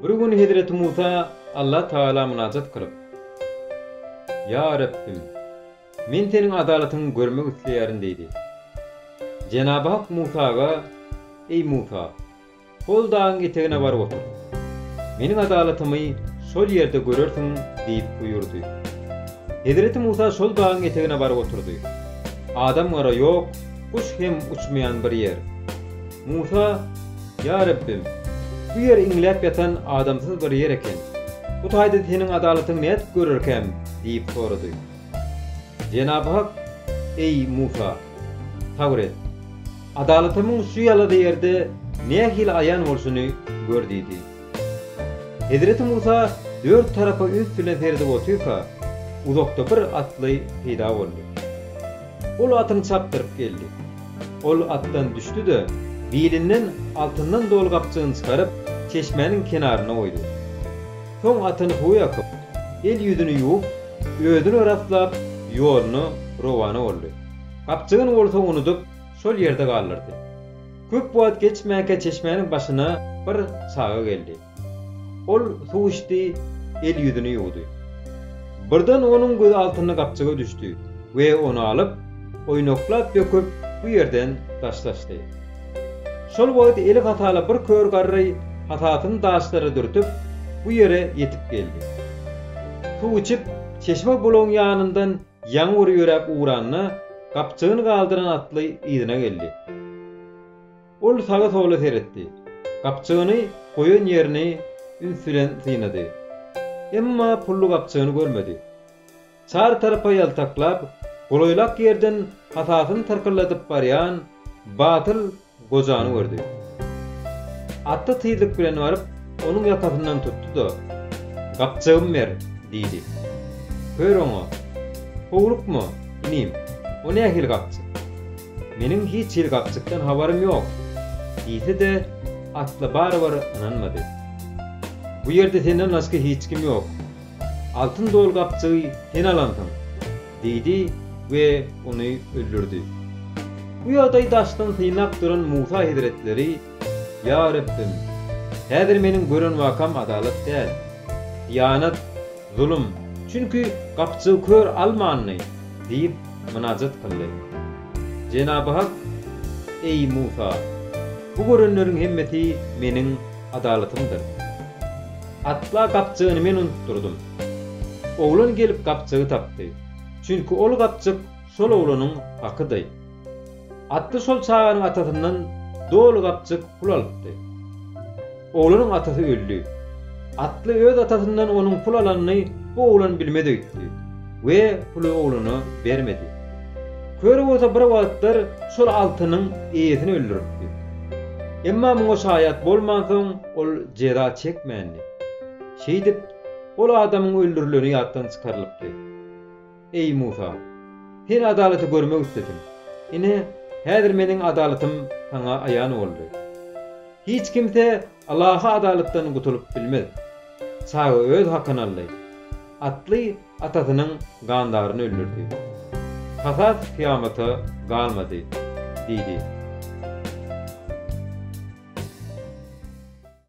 Bir gün hezreti Musa Allah Tagala mynajat kylyp, Ýa Rabbim, men seniň adalatyňy görmek isleýärin diýdi. Jenaby Hak Musaga, Eý Musa, Ol dagyň etegine baryp otur. Meniň adalatymy şol ýerde görersiň diýip buýurdy. Hezreti Musa şol dagyň etegine baryp oturdy. Adam-gara ýok, guş hem uçmaýan bir ýer. Musa, Ýa Rabbim, bu ýer iňläp ýatan adamsyz bir ýer eken. Bu taýda Seniň adalatyňy nädip görerkäm? diýip sorady. Jenab-ı Hak, Eý, Musa! Sabyr et. Adalatymyň şu ýalada ýerde nähili aýan bolşuny gör diýdi. Hezreti Musa dört tarapa üns bilen seredip otyrka, uzakda bir atly peýda boldy. Ol atyny çapdyryp geldi. Ol atdan düşdi-de, bilinden altyndan doly gapjygyny çykaryp, çeşmäniň kenaryna goýdy. Soň atyny suwa ýakyp, el-ýüzüni ýuwup, özüni raslap, ýoluna rowana boldy. Gapjygyny bolsa unudyp, şol ýerde galdyrdy. Köp wagt geçmänkä çeşmäniň başyna bir çaga geldi. Ol suw içdi, el-ýüzüni ýuwdy. Birden onuň gözi altynly gapjyga düşdi we ony alyp, oýnaklap döküp, bu ýerden daşlaşdy. Şol wagt eli hasaly bir kör garry hasasyny daşlara dürtüp, bu ýere ýetip geldi. Suw içip, çeşme-bulagyň ýanyndan Ýaňy bir ýöräp ugranda, gapjygyny galdyran atly yzyna geldi. Ol saga-sola seretdi. Gapjygyny goýan ýerini üns bilen synlady. Emma pully gapjygyny görmedi. Çar tarapa ýaltaklap, golaýlak ýerden hasasyny tyrkylladyp barýan Batyl gojany gördi. Atda tizlik bilen baryp, onuň ýakasyndan tutdy-da, Gapjygymy ber! diýdi. Kör oňa, Howlukma, inim, o nähili gapjyk? Meniň hiç hili gapjykdan habarym ýok! diýse-de, atly barybir ynanmady. Bu ýerde senden başga hiç kim ýok. Altyn doly gapjygy sen alansyň! Diýdi we ony öldürdi. Bu ýagdaýy daşdan synlap duran Musa hezretleri, Ýa Rabbim! Häzir meniň gören wakam adalat däl. Hyýanat, zulum, çünki gapjygy kör almandy, diýip, mynajat kyldy. Jenaby Hak, Eý, Musa! Bu görenleriň hemmesi meniň adalatymdyr. Asla gapjygyny men unutdyrdym. Oglan gelip gapjygy tapdy. Çünki ol gapjyk şol oglanyň hakydy. Atly şol çaganyň atasyndan doly gapjyk pul alypdy. Oglanyň atasy öldi. Atly öz atasyndan onuň pul alanyny bu oglan bilmez öýtdi. we puly oglana bermedi. Köri bolsa bir wagtlar şol altynyň eýesini öldüripdi. Emma muňa şaýat bolmansoň, ol jeza çekmändi. Şeýdip, ol adamyň öldürileni ýatdan çykarylypdy. Eý, Musa! Sen adalaty görmek islediň. Ine, häzir meniň adalatym saňa aýan boldy. Hiç kimse Ylahy adalatdan gutulyp bilmez. Çaga öz hakyny aldy. Atly atasynyň gandaryny öldürdi. Kasas kyýamata galmady, diýdi.